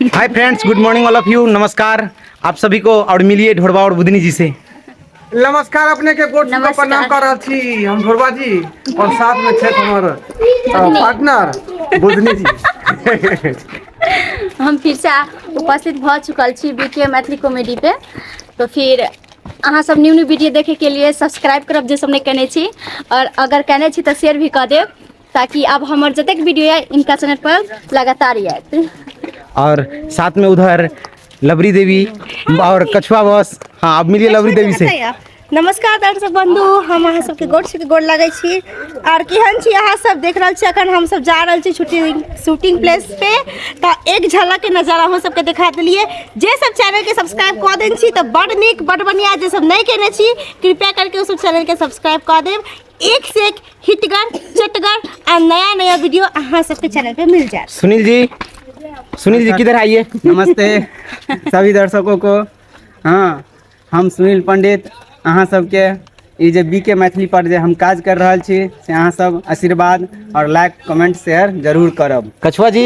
hi friends good morning all of you नमस्कार आप सभी को और मिलिए ढोड़वा और बुधनी जी से नमस्कार अपने के गोट को प्रणाम कर रहल छी हम ढोरबा जी और साथ में छे हमर पार्टनर बुधनी जी हम फिर से उपस्थित भ चुकल छी बीके मैथिली कॉमेडी पे तो फिर अहाँ सब न्यू न्यू वीडियो देखे के लिए सब्सक्राइब करब जे सब नहीं कने छी और अगर कने छी तो शेयर भी कर देब ताकि आब हमर जतेक वीडियो यऽ इनका चैनल पर लगातार आयत और साथ में उधर लबरी देवी और कछुआ बॉस हाँ अब मिलिए लबरी देवी से नमस्कार दर्शक बंधु हम अहाँ सबके गोर छीके गोर लागै छी आर केहन छी अहाँ सब देख रहल छी अखन हम सब जा रहल छी शूटिंग शूटिंग प्लेस पे तऽ एक झलक के नजारा अहाँ सबके देखा देलिए जे सब चैनल के सब्सक्राइब कऽ देन छी तऽ बड नीक बड बढ़िया जे सब नहि केने छी कृपया करके ओ सब चैनल के सब्सक्राइब कऽ देब एक से एक हिटगर चटगर और नया नया वीडियो अहाँ सबके चैनल पे मिल जाए सुनील जी सुनील जी किधर आइए नमस्ते सभी दर्शकों को हाँ हम सुनील पंडित अहाँ सबके ई जे बी के मैथिली पर जे हम काज कर रहल छी से अहाँ सब आशीर्वाद और लाइक कमेंट शेयर जरूर करब कछुआ जी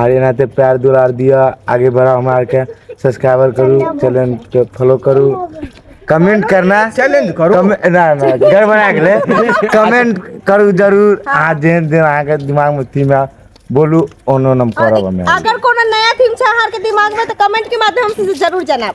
आर एनाहिते प्यार दुलार दिअ आगे बढ़ाउ हमरा आरके सब्सक्राइबर करू चैनल के फॉलो करू कमेंट करना चैलेंज करू कमे- ना ना गड़बड़ा गेलै कमेंट करू जरूर अहाँ जेहन जेहन अहाँके दिमागमे थीम है बोलू ओनो हम करब हमे अगर कोनो नया थीम छै अहाँके दिमाग में तो कमेंट के माध्यम से जरूर जनाब